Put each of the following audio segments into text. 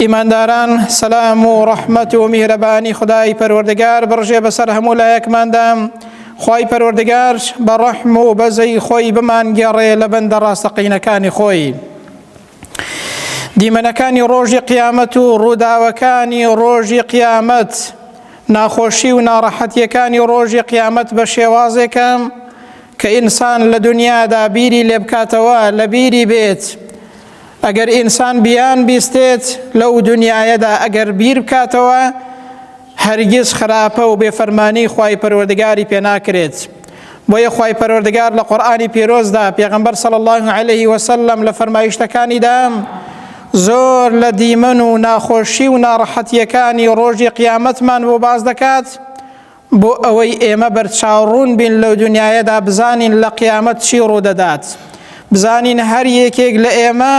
ئیمانداران سەلام و ڕەحمەت و میهرەبانی خدای پەروەردگار بڕژێ بەسەر هەموو لایەکماندا خی پەروەردگار بە ڕەحم و بەزەی خۆی بمانگەڕێ لە بەندە ڕاستەقینەکانی خۆی. دیمەنەکانی ڕۆژی قیامەت و ڕووداوەکانی ڕۆژی قیامەت ناخۆشی و ناڕەحەتیەکانی ڕۆژی قیامەت بە شێوازێکم کە ئینسان لە دنیادا بیری لێبکاتەوە لە بیری بێت. ئەگەر ئینسان بیان بیستێت لەو دنیایەدا ئەگەر بیر بکاتەوە هەرگیز خراپە و بێفەرمانی خی پەروەردگاری پێناکرێت بۆیە خی پەروەردگار لە قورآانی پیرۆزدا پێغمبەر سەڵ الله عليه وسلم لە فەرمایشتەکانیدا زۆر لە دیمەن و ناخۆشی و ناڕەحەتیەکانی ڕۆژی قیامەتمان بۆ باز دەکات بۆ ئەوەی ئێمە بەرچاو ڕوون بین لەو دونیایەدا بزانین لە قیامەت چی ڕوودەدات بزانین هەر یەکێک لە ئێمە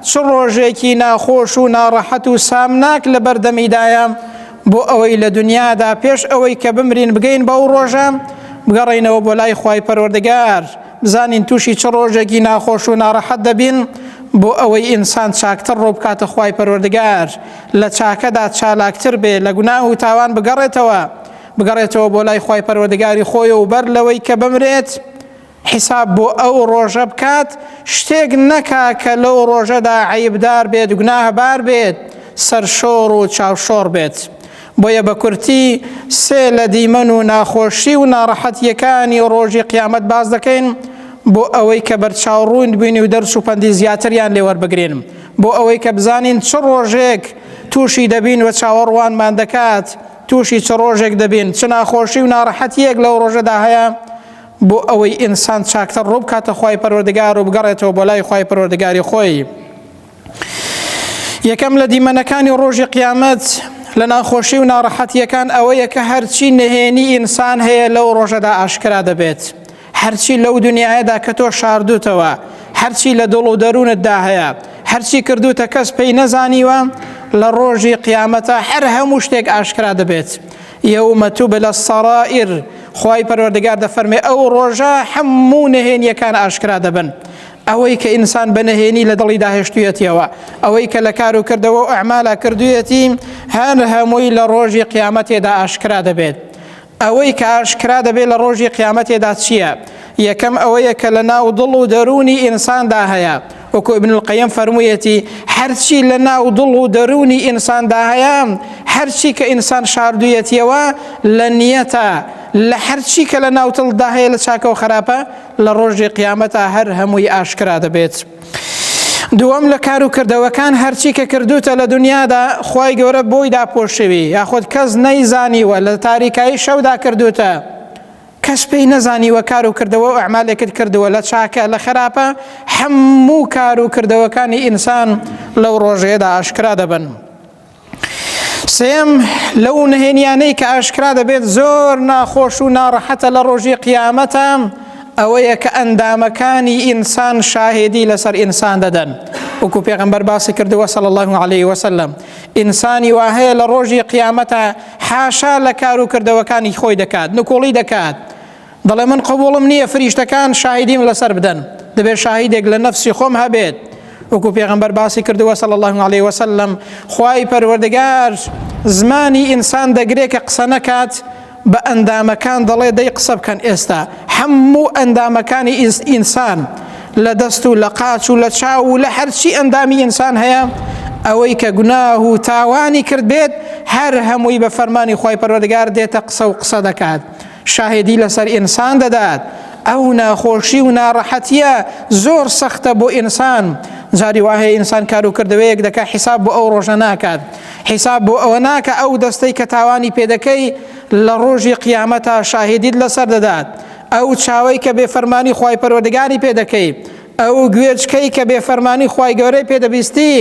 چ ڕۆژێکی ناخۆش و ناڕەحەت و سامناک لە بەردەمیدایە بۆ ئەوەی لە دنیادا پێش ئەوەی کە بمرین بگەین بەو ڕۆژە بگەڕینەوە بۆ لای خی پەروەردەگار بزانین توشی چ ڕۆژێکی ناخۆش و ناڕەحەت دەبین بۆ ئەوەی ئینسان چاکتر ڕوو بکاتە خوای پەروەردگار لە چاکەدا چالاکتر بێ لە گوناه و تاوان بگەڕێتەوە بگەڕێتەوە بۆ لای خوای پەروەردگاری خۆی و بەر لەوەی کە بمرێت حیساب بۆ ئەو ڕۆژە بکات شتێک نەکا کە لەو ڕۆژەدا عیبدار بێت گوناهبار بێت سەرشۆڕ و چاوشۆڕ بێت بۆیە بە کورتی سێ لە دیمەن و ناخۆشی و ناڕەحەتییەکانی ڕۆژی قیامەت باس دەکەین بۆ ئەوەی کە بەرچاو ڕووند بین و دەرس و پەندی زیاتریان لێ وەربگرین بۆ ئەوەی کە بزانین چ ڕۆژێک تووشی دەبین و چاوەڕوانمان دەکات تووشی چ ڕۆژێک دەبین چ ناخۆشی و ناڕەحەتیەک لەو ڕۆژەدا هەیە بۆ ئەوەی ئینسان چاکتر ڕووبکاتە خی پەرۆردگار و بگەڕێتەوە بۆ لای خی پەرۆردگاری خۆی. یەکەم لە دیمەنەکانی ڕۆژی قیامەت لە ناخۆشی و ناڕەحەتیەکان ئەوەیە کە هەرچی نهێنی ئینسان هەیە لەو ڕۆژەدا ئاشکرا دەبێت هەرچی لەو دنیاەدا کە تۆ شاردوتەوە هەرچی لە دڵ و دەروونتدا هەیە هەرچی کردوتە کەس پێی نەزانیوە لە ڕۆژی قیامەتە هەر هەموو شتێک ئاشکرا دەبێت یومە تو بلە سەڕائر خی پەروەردگار دەفەرمێ ئەو ڕۆژە هەموو نهێنیەکان ئاشکرا دەبن ئەوەی کە ئینسان بە نەهێنی لە دڵی داهێشتویەتیەوە ئەوەی کە لە کار و کردەوە و ئەعمالا کردویەتی هەر هەمووی لە ڕۆژی قیامەتێدا ئاشکرا دەبێت ئەوەی کە ئاشکرا دەبێت لە ڕۆژی قیامەتێدا چییە یەکەم ئەوەیە کە لە ناو دڵ و دەرونی ئینساندا هەیە وەکو ابن القیم فەرموویەتی هەرچی لە ناو دڵ و دەرونی ئینساندا هەیە هەرچی کە ئینسان شاردویەتیەوە لە نیەتە لە هەرچی کە لە ناوتڵدا هەیە لە چاکە و خراپە لە ڕۆژی قیامەتا هەر هەمووی ئاشکرا دەبێت. دووەم لە کار و کردەوەکان هەرچی کە کردوتە لە دنیادا خی گەورە بۆی داپۆشوی یاخود کەس نەیزانیوە لە تاریکایی شەودا کردوتە کەس پێی نەزانیوە کار و کردەوە و ئەعمالێکت کردووە لە چاکە لە خراپە هەموو کار و کردەوەکانی ئینسان لەو ڕۆژەیەدا ئاشکرا دەبن. سێم لەو نهێنیانەی کە ئاشکرا دەبێت زۆر ناخۆش و ناڕەحەتە لە ڕۆژی قیامەتە ئەوەیە کە ئەندامەکانی ئینسان شاهێدی لەسەر ئینسان دەدەن وەکو پێغمبەر باسی کردووە سەڵ الله عليه وسلم ئینسانی وا هەیە لە ڕۆژی قیامەتە حاشا لە کار و کردەوەکانی خۆی دەکات نکۆڵی دەکات دەڵێ من قبوڵم نییە فریشتەکان شاهیدیم لەسەر بدەن دەبێت شاهیدێک لە نەفسی خۆم هەبێت وەکو پێغمبەر باسی کردووە سەڵ الله عليه وسلم خوای پەروەردگار زمانی ئینسان دەگرێت کە قسە نەکات بە ئەندامەکان دەڵێ دەی قسە بکەن ئێستا هەموو ئەندامەکانی ئینسان لە دەست و لە قاچ و لە چاو و لە هەرچی ئەندامی ئینسان هەیە ئەوەی کە گوناه و تاوانی کرد بێت هەر هەمووی بە فەرمانی خی پەروەردگار دێتە قسە و قسە دەکات. شاهێدی لەسەر ئینسان دەدات ئەو ناخۆشی و ناڕەحەتیە زۆر سەختە بۆ ئینسان جاری واهەیە ئینسان کار و کردەوەیەک دەکا حیساب بۆ ئەو ڕۆژە ناکات حیساب بۆ ئەوە ناکە ئەو دەستەی کە تاوانی پێدەکەی لە ڕۆژی قیامەتا شاهدید لەسەر دەدات ئەو چاوەی کە بێ فەرمانی خی پەروەردگاری پێدەکەی ئەو گوێچکەی کە بێ فەرمانی خی گەورەی پێدەبیستی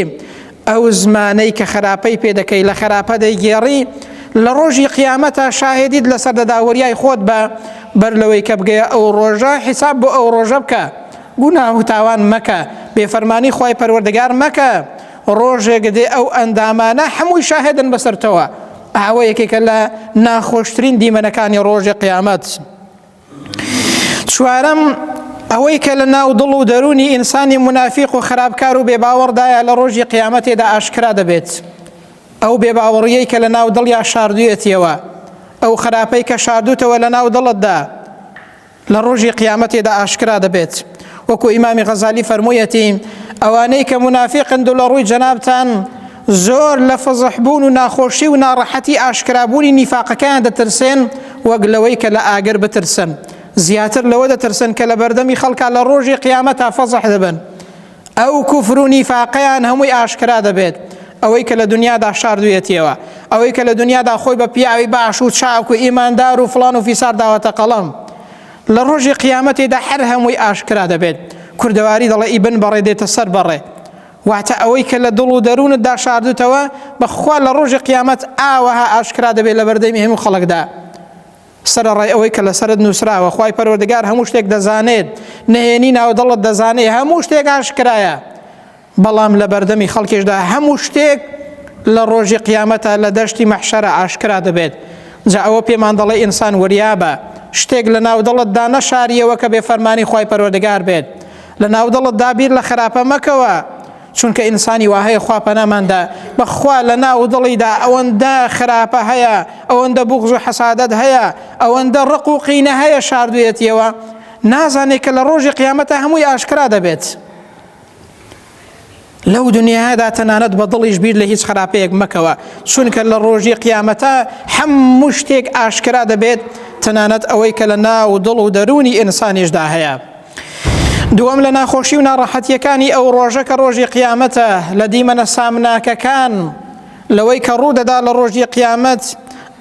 ئەو زمانەی کە خراپەی پێدەکەی لە خراپە دەیگێڕی لە ڕۆژی قیامەتە شاهدیت لەسەر دەداوەریای خۆت بە بەر لەوەی کە بگەیە ئەو ڕۆژە حیساب بۆ ئەو ڕۆژە بکە گوناه و تاوان مەکە بێفەرمانی خی پەروەردەگار مەکە ڕۆژێک دێ ئەو ئەندامانە هەمووی شاهدن بەسەرتەوە ئاوە یەکێکە لە ناخۆشترین دیمەنەکانی ڕۆژی قیامەت. چوارەم ئەوەی کە لە ناو دڵ و دەرونی ئینسانی منافیق و خراپکار و بێباوەڕدایە لە ڕۆژی قیامەتێدا ئاشکرا دەبێت ئەو بێباوەڕیەی کە لە ناو دڵ یا شاردویەتیەوە ئەو خراپەی کە شاردوتەوە لە ناو دڵتدا لە ڕۆژی قیامەتێدا ئاشکرا دەبێت وەکو ئیمامی غەزالی فەرموویەتی ئەوانەی کە منافقن دوو لە ڕووی جەنابان زۆر لە فضح بوون و ناخۆشی و ناڕەحەتی ئاشکرا بوونی نیفاقەکەیان دەترسێن وەک لەوەی کە لە ئاگر بترسن زیاتر لەوە دەترسن کە لە بەردەمی خەڵکا لە ڕۆژی قیامەتا فضح دەبن ئەو کوفر و نیفاقەیان هەمووی ئاشکرا دەبێت ئەوەی کە لە دنیادا شاردویەتیەوە ئەوەی کە لە دنیادا خۆی بە پیاوی باش و چاک و ئیماندار و فلان و فیسار داوەتە قەڵم لە ڕۆژی قیامەتێدا هەر هەمووی ئاشکرا دەبێت کوردەواری دەڵێ ئیبن بەڕێ دێتە سەر بەڕێ واتە ئەوەی کە لە دڵ و دەروونتدا شاردوتەوە، بەخوا لە ڕۆژی قیامەت ئاوەها ئاشکرا دەبێت لە بەردەمی هەموو خەڵکدا، سەرەڕای ئەوەی کە لەسەرت نوسراوە، خوای پەروەردگار هەموو شتێک دەزانێت، نهێنی ناودڵت دەزانێت، هەموو شتێک ئاشکرایە، بەڵام لە بەردەمی خەڵکیشدا هەموو شتێک لە ڕۆژی قیامەتە لە دەشتی مەحشەرە ئاشکرا دەبێت، جا ئەوە پێمان دەڵێت ئینسان وریابە، شتێک لە ناودڵتدا نەشاریەوە کە بێفەرمانی خوای پەروەردگار بێت، لە ناو دڵتدا بیر لە خراپە مەکەوە چونکە ئینسانی وا هەیە خوا پەناماندا بەخوا لە ناو دڵیدا ئەوەندە خراپە هەیە ئەوەندە بغز و حەسادت هەیە ئەوەندە ڕق و قینە هەیە شاردوێتیەوە نازانێت کە لە ڕۆژی قیامەتە هەمووی ئاشکرا دەبێت. لەو دنیادا تەنانەت بە دڵیش بیر لە هیچ خراپەیەک مەکەوە چونکە لە ڕۆژی قیامەتە هەموو شتێک ئاشکرا دەبێت تەنانەت ئەوەی کە لە ناو دڵ و دەرونی ئینسانیشدا هەیە. دووەم لە ناخۆشی و ناڕەحەتیەکانی ئەو ڕۆژە کە ڕۆژی قیامەتە لە دیمەنە سامناکەکان لەوەی کە ڕوودەدا لە ڕۆژی قیامەت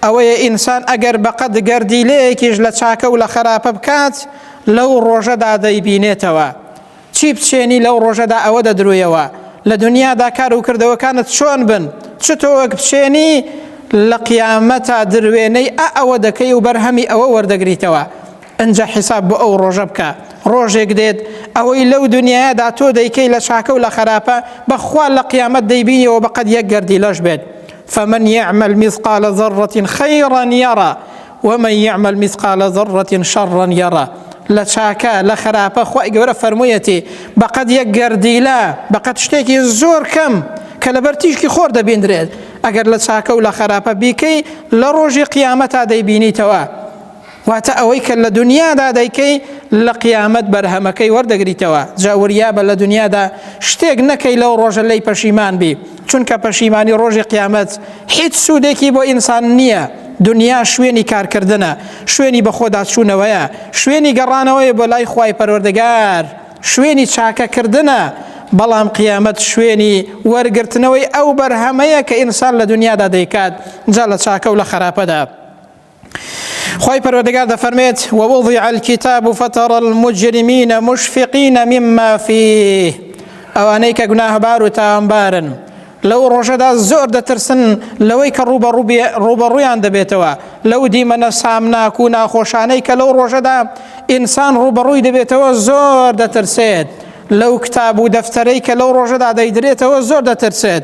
ئەوەیە ئینسان ئەگەر بەقەد گەردیلەیەکیش لە چاکە و لە خراپە بکات لەو ڕۆژەدا دەیبینێتەوە چی بچێنی لەو ڕۆژەدا ئەوە دەدرویەوە لە دنیادا کار و کردەوەکانت چۆن بن چ تۆ وەک بچێنی لە قیامەتا دروێنەی ئە ئەوە دەکەی و بەرهەمی ئەوە وەردەگریتەوە ئەجا حیساب بۆ ئەو ڕۆژە بکە ڕۆژێک دێت ئەوەی لەو دنیادا تۆ دەیکەی لە چاکە و لە خراپە بەخوا لە قیامەت دەیبینیەوە بەقەت یەک گەردی لەش بێت فمن يعمل مثقال ذرة خيرا يرى ومن یعمل مثقال ذرە شرا یرە لە چاکە لە خراپە خوای گەورە فەرموویەتی بەقەد یەک گەردیلە بەقەد شتێکی زۆر کەم کە لەبەر تیشکی خۆر دەبیندرێت ئەگەر لە چاکە و لە خراپە بیکەی لە ڕۆژی قیامەتا دەیبینیتەوە واتە ئەوەی کە لە دنیادا دەیکەی لە قیامەت بەرهەمەکەی وەردەگریتەوە جاوریابە لە دنیادا شتێک نەکەی لەو ڕۆژە لی پەشیمان بی چونکە پەشیمانی ڕۆژی قیامەت هیچ سوودێکی بۆ ئینسان نییە دنیا شوێنی کارکردنە شوێنی بەخۆداچوونەوەیە شوێنی گەڕانەوەی بۆ لای خی پەروەردەگار شوێنی چاکەکردنە بەڵام قیامەت شوێنی وەرگرتنەوەی ئەو بەرهەمەیە کە ئینسان لە دنیادا دەیکات جا لە چاکە و لە خراپەدا خوای پەروەردگار دەفەرمێت ووضع الكتاب فترى المجرمين مشفقين مما فيه ئەوانەی کە گوناهبار و تاوانبارن لەو ڕۆژەدا زۆر دەترسن لەوەی کە ڕوبە ڕوبەڕویان دەبێتەوە لەو دیمەنە سامناک و ناخۆشانەی کە لەو ڕۆژەدا ئینسان ڕوبەڕووی دەبێتەوە زۆر دەترسێت لەو کتاب و دەفتەرەی کە لەو ڕۆژەدا دەیدرێتەوە زۆر دەترسێت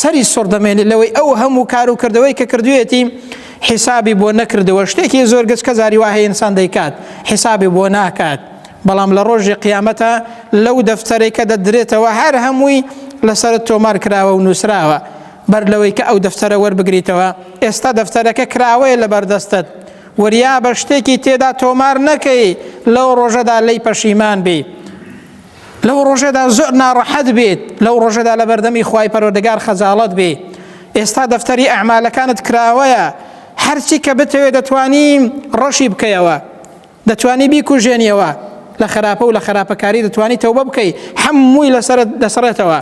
سەری سوڕ دەمێنێت لەوەی ئەو هەموو کار و کردەوەی کە کردوێتی حیسابی بۆ نەکردەوە شتێکی زۆر گەچ کە زاری وهەیە ئینسان دەیکات حیسابی بۆ ناکات بەڵام لە ڕۆژی قیامەتە لەو دەفتەرێک کە دەدرێتەوە هەر هەمووی لەسرت تۆمار کراوە و نووسراوە بەر لەوەی کە ئەو دەفتەرە وەربگریتەوە ئێستا دەفتەرەکە کراوەیە لە بەردەستت وریا بە شتێکی تێدا تۆمار نەکەی لەو ڕۆژەدا لی پەشیمان بی لەو ڕۆژەدا زۆر ناڕەحەت بێت لەو ڕۆژەدا لە بەردەمی خوای پەرۆدەگار خەجاڵت بێ ئێستا دەفتەری ئەعمالەکانت کراوەیە هەرچی کە بتەوێت دەتوانی ڕەشی بکەیەوە دەتوانی بیکوژێنیەوە لە خراپە و لە خراپەکاری دەتوانی تەوبە بکەی هەمووی لەسەر دەسڕێتەوە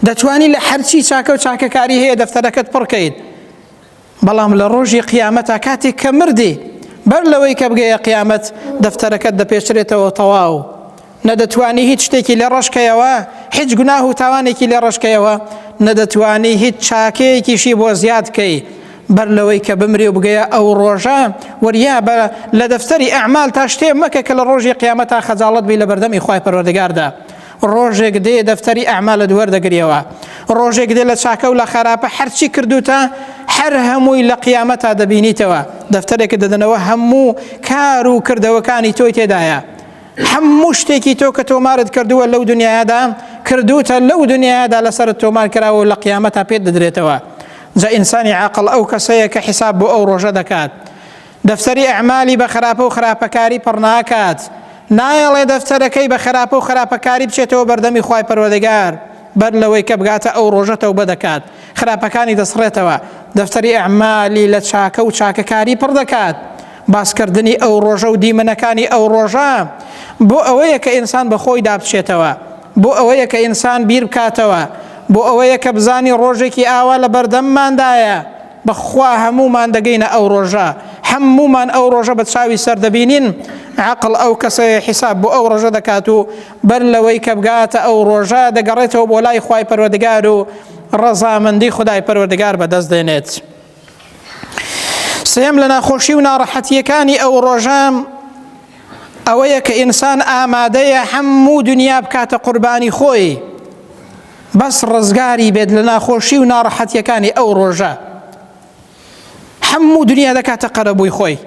دەتوانی لە هەرچی چاکە و چاکەکاری هەیە دەفتەرەکەت پڕکەیت بەڵام لە ڕۆژی قیامەتا کاتێک کە مردی بەر لەوەی کە بگەیە قیامەت دەفتەرەکەت دەپێچرێتەوە تەواو نەدەتوانی هیچ شتێکی لێ ڕەشکەیەوە هیچ گوناه و تاوانێکی لێ ڕەشکەیەوە نەدەتوانی هیچ چاکەیەکیشی بۆ زیاد کەی بەر لەوەی کە بمری و بگەیە ئەو ڕۆژە وریا بە لە دەفتەری ئەعمال تا شتێ مەکە کە لە ڕۆژی قیامەتا خەجاڵت بی لە بەردەمی خی پەروەردەگاردا ڕۆژێک دێ دەفتەری ئەعمالت وەردەگریەوە ڕۆژێک دێ لە چاکە و لە خراپە هەرچی کردوتە هەر هەمووی لە قیامە تا دەبینیتەوە دەفتەرێکە دەدەنەوە هەموو کار و کردەوەکانی تۆی تێدایە هەموو شتێکی تۆ کە تۆمارت کردووە لەو دنیادا کردوتە لەو دنیادا لەسەر تۆمار کراوە و لە قیامە تا پێت دەدرێتەوە جا ئینسانی عقل ئەو کەسەیە کە حیساب بۆ ئەو ڕۆژە دەکات دەفتەری ئەعمالی بە خراپە و خراپەکاری پڕ ناکات، نایەڵێ دەفتەرەکەی بە خراپە و خراپەکاری بچێتەوە بەردەمی خوای پەروەردگار، بەر لەوەی کە بگاتە ئەو ڕۆژە تەوبە دەکات، خراپەکانی دەسڕێتەوە، دەفتەری ئەعمالی لە چاکە و چاکەکاری پڕ دەکات، باس کردنی ئەو ڕۆژە و دیمەنەکانی ئەو ڕۆژە بۆ ئەوەیە کە ئینسان بە خۆیدا بچێتەوە، بۆ ئەوەیە کە ئینسان بیر بکاتەوە، بۆ ئەوەیە کە بزانی ڕۆژێکی ئاوا لە بەردەمماندایە، بەخوا هەموومان دەگەینە ئەو ڕۆژە هەموومان ئەو ڕۆژە بە چاوی سەر دەبینین عقل ئەو کەسەیە حیساب بۆ ئەو ڕۆژە دەکات و بەر لەوەی کە بگاتە ئەو ڕۆژە دەگەڕێتەوە بۆ لای خوای پەروەردگار و ڕەزامەندی خدای پەروەردگار بەدەست دێنێت سێم لە ناخۆشی و ناڕەحەتیەکانی ئەو ڕۆژە ئەوەیە کە ئینسان ئامادەیە هەموو دنیا بکاتە قوربانی خۆی بەس ڕزگاری بێت لە ناخۆشی و ناڕەحەتیەکانی ئەو ڕۆژە حەموو دنیا دەکاتە قەرەبووی خۆی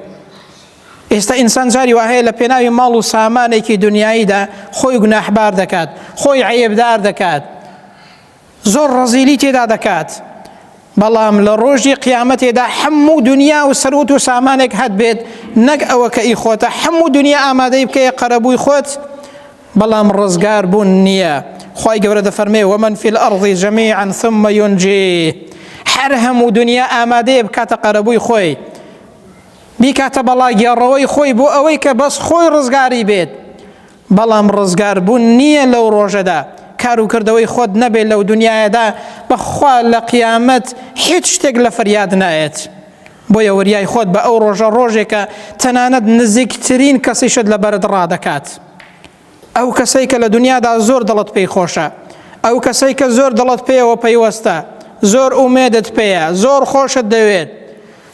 ئێستا ئینسان جاری وهەیە لە پێناوی ماڵ و سامانێکی دنیاییدا خۆی گوناحبار دەکات خۆی عەیبدار دەکات زۆر ڕزیلی تێدا دەکات بەڵام لە ڕۆژی قیامەتێدا حەموو دنیا و سەروت و سامانێک هەت بێت نەک ئەوە کە ئی خۆتە حەموو دنیا ئامادەی بکەیە قەرەبووی خۆت بەڵام ڕزگار بوون نییە خی گەورە دەفەرمێ وەمن فیل ئەڕضی جەمی عن ثم یونجی هەر هەموو دنیا ئامادەیە بکاتە قەرەبووی خۆی بیکاتە بەڵاگێڕەوەی خۆی بۆ ئەوەی کە بەس خۆی ڕزگاری بێت بەڵام ڕزگار بوون نییە لەو ڕۆژەدا، کار و کردەوەی خۆت نەبێت لەو دونیایەدا بەخوا لە قیامەت هیچ شتێک لە فەریاد نایەت، بۆیە وریای خۆت بە ئەو ڕۆژە ڕۆژێکە تەنانەت نزیکترین کەسیشت لە بەرت ڕادەکات ئەو کەسەی کە لە دونیادا زۆر دڵت پێی خۆشە ئەو کەسەی کە زۆر دڵت پێیەوە پەیوەستە زۆر ئومێدت پێیە زۆر خۆشت دەوێت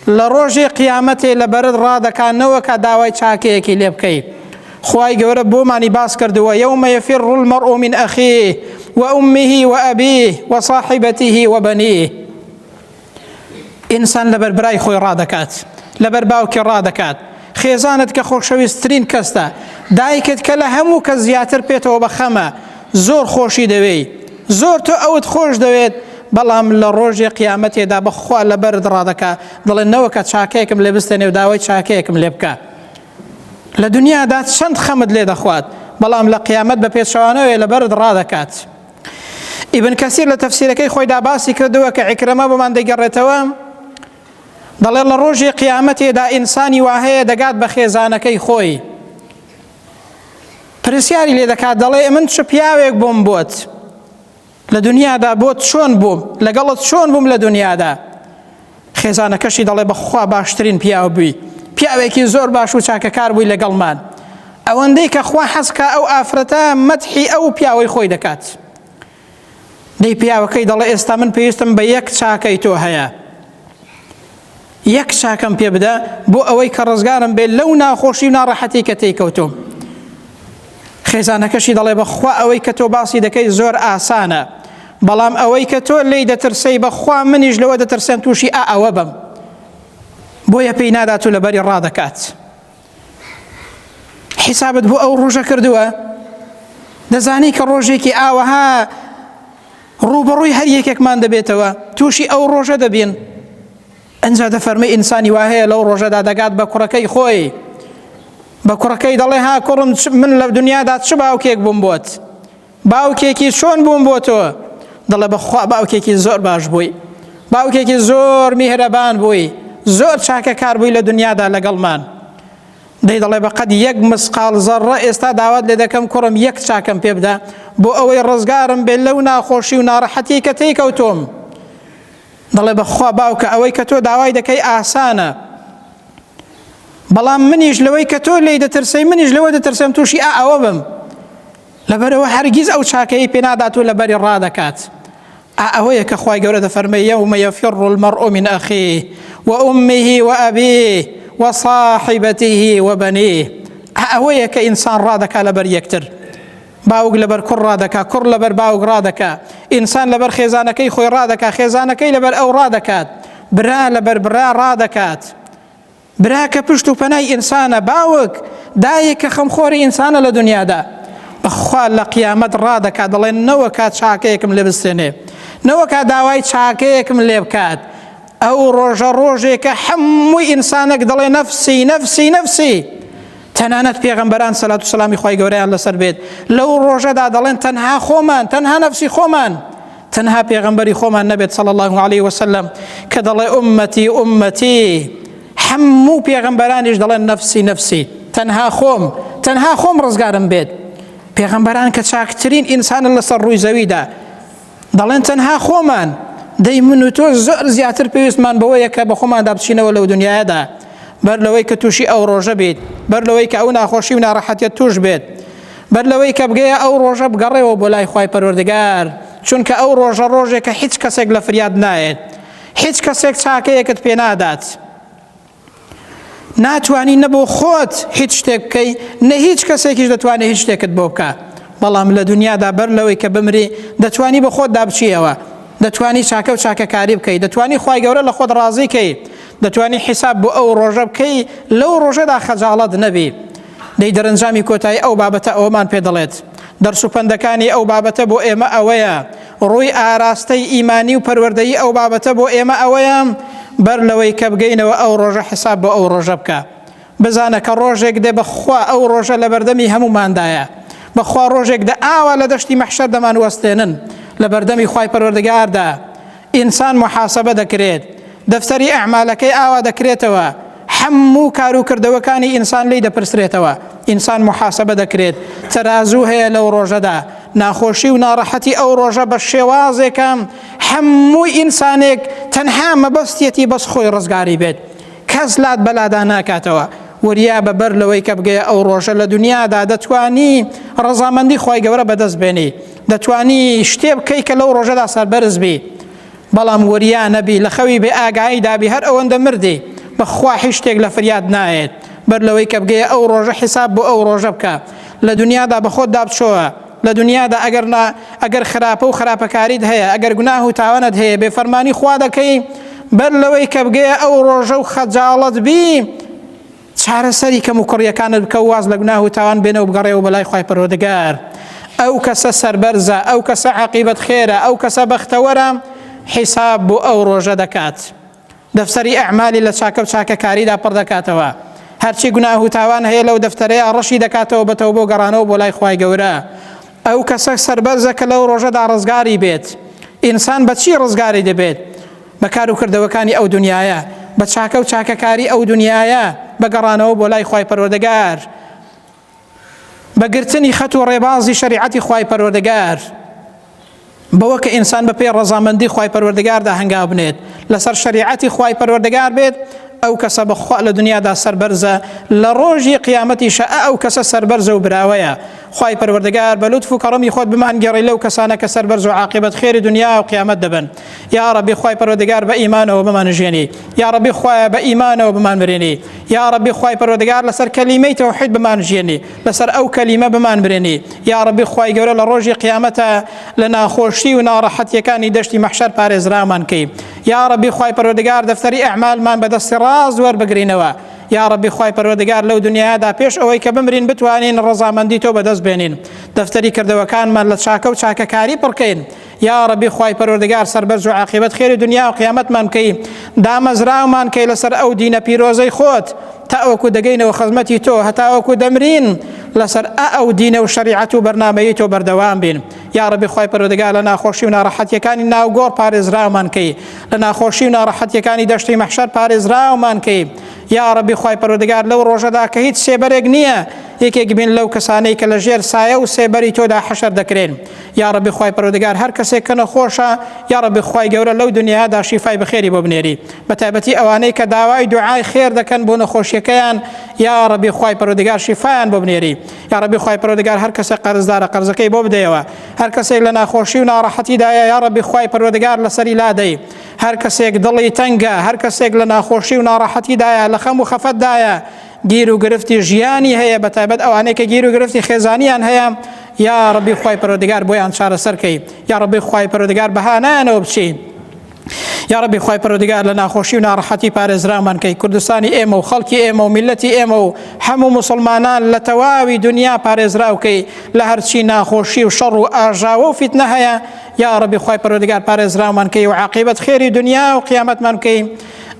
لە ڕۆژی قیامەتێ لە بەرت ڕادەکا نەوەکا داوای چاکەیەکی لێ بکەی خوای گەورە بۆمانی باس کردووە یوم یفر المرء من اخیه و امه و ابیه و صاحبته و بنیه ئینسان لەبەر برای خۆی ڕادەکات لەبەر باوکی ڕادەکات خێزانت کە خۆشەویستترین کەستە، دایکت کە لە هەموو کەس زیاتر پێتەوە بە خەمە، زۆر خۆشی دەوێی، زۆر تۆ ئەوت خۆش دەوێت، بەڵام لە ڕۆژێ قیامەتێدا بە خوا لە بەرت ڕادەکا، دەڵێ نەوەکە چاکەیەکم لێ بستێنێ و داوای چاکەیەکم لێ بکا. لە دنیادا چەند خەمت لێ دەخوات، بەڵام لە قیامەت بە پێچەوانەوەیە لە بەرت ڕادەکات. ئیبن کەسیر لە تەفسیرەکەی خۆیدا باسی کردووە کە عیکرمە بۆمان دەگەڕێتەوە، دەڵێت لە ڕۆژی قیامەتێدا ئینسانی واهەیە دەگات بە خێزانەکەی خۆی پرسیاری لێ دەکات دەڵێ من چ پیاوێک بووم بۆت لە دنیادا بۆت چۆن بووم لەگەڵت چۆن بووم لە دنیادا خێزانەکەشی دەڵێ بەخوا باشترین پیاو بووی پیاوێکی زۆر باش و چاکەکار بووی لەگەڵمان ئەوەندەی کە خوا حەزکە ئەو ئافرەتە مەتحی ئەو پیاوەی خۆی دەکات دەی پیاوەکەی دەڵێ ئێستا من پێویستم بە یەک چاکەی تۆ هەیە یەک چاکەم پێ بدە بۆ ئەوەی کە ڕزگارم بێت لەو ناخۆشی و ناڕەحەتی کە تێکەوتۆم خێزانەکەشی دەڵێ بەخوا ئەوەی کە تۆ باسی دەکەی زۆر ئاسانە بەڵام ئەوەی کە تۆ لی دەترسەی بەخوا منیش لەوە دەترسێن تووشی ئا ئەوە بم بۆیە پێی نادات و لەبەری ڕادەکات. حیسابت بۆ ئەو ڕۆژە کردووە دەزانی کە ڕۆژێکی ئاوەها ڕوبەڕووی هەر یەکێکمان دەبێتەوە تووشی ئەو ڕۆژە دەبین ئەجا دەفەرمی ئینسانی وا هەیە لەو ڕۆژەدا دەگات بە کوڕەکەی خۆی بە کوڕەکەی دەڵێ ها کوڕم من لە دنیادا چ باوکێک بووم بۆت باوکێکی چۆن بووم بۆ تۆ دڵە بەخوا باوکێکی زۆر باش بووی باوکێکی زۆر میهرەبان بووی زۆر چاکە کار بووی لە دنیادا لەگەڵمان دەی دەڵێ بەقەت یەک مسقال زەڕە ئێستا داوات لێ دەکەم کوڕم یەک چاکەم پێ بدە بۆ ئەوەی ڕزگارم بێت لەو ناخۆشی و ناڕەحەتی کە تێی کەوتۆم دەڵێ بەخوا باوکە ئەوەی کە تۆ داوای دەکەی ئاسانە بەڵام منیش لەوەی کە تۆ لی دەترسەی منیش لەوە دەترسم تووشی ئا ئەوە بم لەبەرئەوە هەرگیز ئەو چاکەیەی پێنادات و لەبەری ڕادەکات. ئا ئەوەیە کە خوای گەورە دەفەرمێ، یەومە یەفیڕ المەڕئ من ئەخیه وئومه وئەبیه وصاحبته وبنیه ئا ئەوەیە کە ئینسان ڕادەکا لەبەر یەکتر. باوک لەبەر کوڕ ڕادەکا، کوڕ لەبەر باوک ڕادەکا، ئینسان لەبەر خێزانەکەی خۆی ڕادەکا، خێزانەکەی لەبەر ئەو ڕادەکات، برا لەبەر برا ڕادەکات. برا کە پشت و پەنای ئینسانە، باوک، دایک کە خەمخۆری ئینسانە لە دونیادا، بەخوا لە قیامەت ڕادەکات دەڵێ نەوەکا چاکەیەکم لێ بستێنێ، نەوەکا داوای چاکەیەکم لێ بکات، ئەو ڕۆژە ڕۆژێکە هەموو ئینسانەک دەڵێ نەفسی، نەفسی، نەفسی، تەنانەت پێغەمبەران سەلات و سەلامی خوای گەورەیان لەسەر بێت لەو ڕۆژەدا دەڵێن تەنها خۆمان، تەنها نەفسی خۆمان. تەنها پێغەمبەری خۆمان نەبێت صلی الله علیه وسلم کە دەڵێ ئومەتی ئومەتی هەموو پێغەمبەرانیش دەڵێن نەفسی نەفسی تەنها خۆم تەنها خۆم ڕزگارم بێت پێغەمبەران کە چاکترین ئینسانە لەسەر ڕووی زەویدا دەڵێن تەنها خۆمان دەی من و تۆ زۆر زیاتر پێویستمان بەوەیە کە بە خۆماندا بچینەوە لەو دنیادا بەر لەوەی کە تووشی ئەو ڕۆژە بیت بەر لەوەی کە ئەو ناخۆشی و ناڕەحەتیت توش بێت بەر لەوەی کە بگەیە ئەو ڕۆژە بگەڕێەوە بۆ لای خی پەروەردگار چونکە ئەو ڕۆژە ڕۆژێکە هیچ کەسێک لە فریاد نایێت هیچ کەسێک چاکەیەکت پێ نادات ناتوانی نەبوو خۆت هیچ شتێک بکەی نە هیچ کەسێکیش دەتوانێت هیچ شتێکت بۆ بکە بەڵام لە دنیادا بەر لەوەی کە بمری دەتوانی بە خۆت دابچیەوە دەتوانی چاکە و چاکەکاری بکەیت دەتوانی خی گەورە لە خۆت ڕازیکەیت دەتوانی حیساب بۆ ئەو ڕۆژە بکەی لەو ڕۆژەدا خەجاڵەت نەبی دەی دەرەنجامی کۆتایی ئەو بابەتە ئەوەمان پێ دەڵێت دەرس و پەندەکانی ئەو بابەتە بۆ ئێمە ئەوەیە ڕووی ئاراستەی ئیمانی و پەروەردەی ئەو بابەتە بۆ ئێمە ئەوەیە بەر لەوەی کە بگەینەوە ئەو ڕۆژە حساب بۆ ئەو ڕۆژە بکە بزانە کە ڕۆژێک دێ بەخوا ئەو ڕۆژە لە بەردەمی هەموماندایە بەخوا ڕۆژێک دە ئاوا لە دەشتی مەحشەر دەمان وەستێنن لە بەردەمی خی پەروەردەگاردا ئینسان محاسبە دەکرێت دەفتەری ئەعمالەکەی ئاوا دەکرێتەوە هەموو کار و کردەوەکانی ئینسان لی دەپرسرێتەوە ئینسان محاسبە دەکرێت تەرازوو هەیە لەو ڕۆژەدا ناخۆشی و ناڕەحەتی ئەو ڕۆژە بە شێوازێکە هەموو ئینسانێک تەنها مەبەستیەتی بەس خۆی ڕزگاری بێت کەس لات بەلادا ناکاتەوە وریا بە بەر لەوەی کە بگەیە ئەو ڕۆژە لە دنیادا دەتوانی ڕەزامەندی خی گەورە بەدەست بێنی دەتوانی شتێ بکەی کە لەو ڕۆژەدا سەربەرز بی بەڵام وریا نەبی لە خەوی بێ ئاگایی دابی هەر ئەوەندە مردی بەخوا هیچ شتێک لە فریاد نایێت بەر لەوەی کە بگەیە ئەو ڕۆژە حیساب بۆ ئەو ڕۆژە بکە لە دنیادا بە خۆت دابچۆوە لە دونیادا ئەگەر نا ئەگەر خراپە و خراپەکاریت هەیە ئەگەر گوناه و تاوانت هەیە بێ فەرمانی خوا دەکەی بەر لەوەی کە بگەیە ئەو ڕۆژە و خەجاڵەت بی چارەسەری کەم و کوڕیەکانت بکە و واز لە گوناه و تاوان بێنە و بگەڕێ و بەلای خی پەرۆدگار ئەو کەسە سربەرزە ئەو کەسە عقیبەت خێرە ئەو کەسە بەختەوەرە حیساب بۆ ئەو ڕۆژە دەکات. دەفتەری ئەعمالی لە چاکە و چاکەکاریدا پڕ دەکاتەوە، هەرچی گوناه و تاوان هەیە لەو دەفتەرەیا ڕەشی دەکاتەوە بە تەوبە و گەڕانەوە بۆ لای خوای گەورە، ئەو کەسە سەربەرزە کە لەو ڕۆژەدا ڕزگاری بێت، ئینسان بە چی ڕزگاری دەبێت؟ بە کار و کردەوەکانی ئەو دونیایە، بە چاکە و چاکەکاری ئەو دونیایە، بە گەڕانەوە بۆ لای خوای پەروەردگار. بە گرتنی خەت و ڕێبازی شەریعەتی خوای پەروەردگار بەوە کە ئینسان بە پێی ڕەزامەندی خوای پەروەردگاردا هەنگاو بنێت لەسەر شەریعەتی خوای پەروەردگار بێت ئەو کەسە بەخوا لە دنیادا سربەرزە لە ڕۆژی قیامەتی شە ئەو کەسە سربەرزە و براوەیە خی پەروەردەگار بە لوتف و کەڕمی خۆت بمان گەڕی لەو کەسانە کە سربەرز و عاقبەت خێری دنیا و قیامەت دەبن یاڕە بخوای پەرۆدەگار بە ئیمانەوە بمانژێنی یاڕە بخوایە بە ئیمانەوە بمان برێنی یاڕەبی خوای پەروەردگار لەسەر کەلیمەی تەوحید بمان ژیێنی لەسەر ئەو کەلیمە بمان برێنی یاڕەبی خوای گەورە لە ڕۆژی قیامەتە لە ناخۆشی و ناڕەحەتیەکانی دەشتی مەحشەر پارێزرامان کەی یاڕەبی خوای پەروەردگار دەفتەری ئەعمالمان بەدەستی ڕاز وەربگرینەوە یاڕەبی خوای پەروەردگار لەو دنیادا پێش ئەوەی کە بمرین بتوانین ڕەزامەندی تۆ بەدەست بێنین دەفتەری کردەوەکانمان لە چاکە و چاکەکاری پڕکەین یاڕەبی خوای پەروەردگار سەربەرز و عاقبەت خێری دنیا و قیامەتمان بکەی دامەزراومان کەی لەسەر ئەو دینە پیرۆزەی خۆت تاوەکو دەگەینەوە خزمەتی تۆ هەتاوەکو دەمرین لەسەر ئەو دینە و شریعەت و بەرنمەیە تۆ بەردەوام بین یاڕەبی خوای پەرۆدەگا لە ناخۆشی و ناڕەحەتیەکانی ناوگۆڕ پارێزراومان کەی لە ناخۆشی و ناڕەحەتیەکانی دەشتی مەحشەر پارێزراومان کەی یاڕەبی خوای پەرۆدەگار لەو ڕۆژەدا کە هیچ سێبەرێک نییە یەکێک بین لەو کەسانەی کە لە ژێر سایە و سێبەری تۆدا حەشر دەکرێن یاڕەبی خوای پەروەردگار هەر کەسێک کە نەخۆشە یاڕەبی خوای گەورە لەو دنیادا شیفای بەخێری بۆ بنێری بەتایبەتی ئەوانەی کە داوای دوعای خێر دەکەن بۆ نەخۆشیەکەیان یاڕەبی خوای پەروەردگار شیفایان بۆ بنێری یاڕەبی خوای پەروەردگار هەر کەسە قەرزدارە قەرزەکەی بۆ بدەیەوە هەر کەسێک لە ناخۆشی و ناڕەحەتیدایە یاڕەبی خوای پەروەردگار لەسەری لادەی هەر کەسێک دڵی تەنگە هەر کەسێک لە ناخۆشی و ناڕەحەتیدایە لە خەم و خەفەتدایە گیر و گرفتی ژیانی هەیە بە تایبەت ئەوانەی کە گیر و گرفتی خێزانیان هەیە یا ڕەبی خی پەرۆدگار بۆیان چارەسەرکەی یا ڕەبی خی پەرۆدگار بەهانایانەوە بچی یا ڕەبی خی پەرۆدگار لە ناخۆشی و ناڕەحەتی پارێزرامان کەی کوردستانی ئێمە و خەڵکی ئێمە و میلەتی ئێمە و هەموو مسلمانان لە تەواوی دنیا پارێزراوکەی لە هەرچی ناخۆشی و شەڕ و ئاژاوە و فیتنە هەیە یا ڕەبی خی پەرۆدگار پارێزرامان کەی و عقیبەت خێری دنیا و قیامەتمان بکەی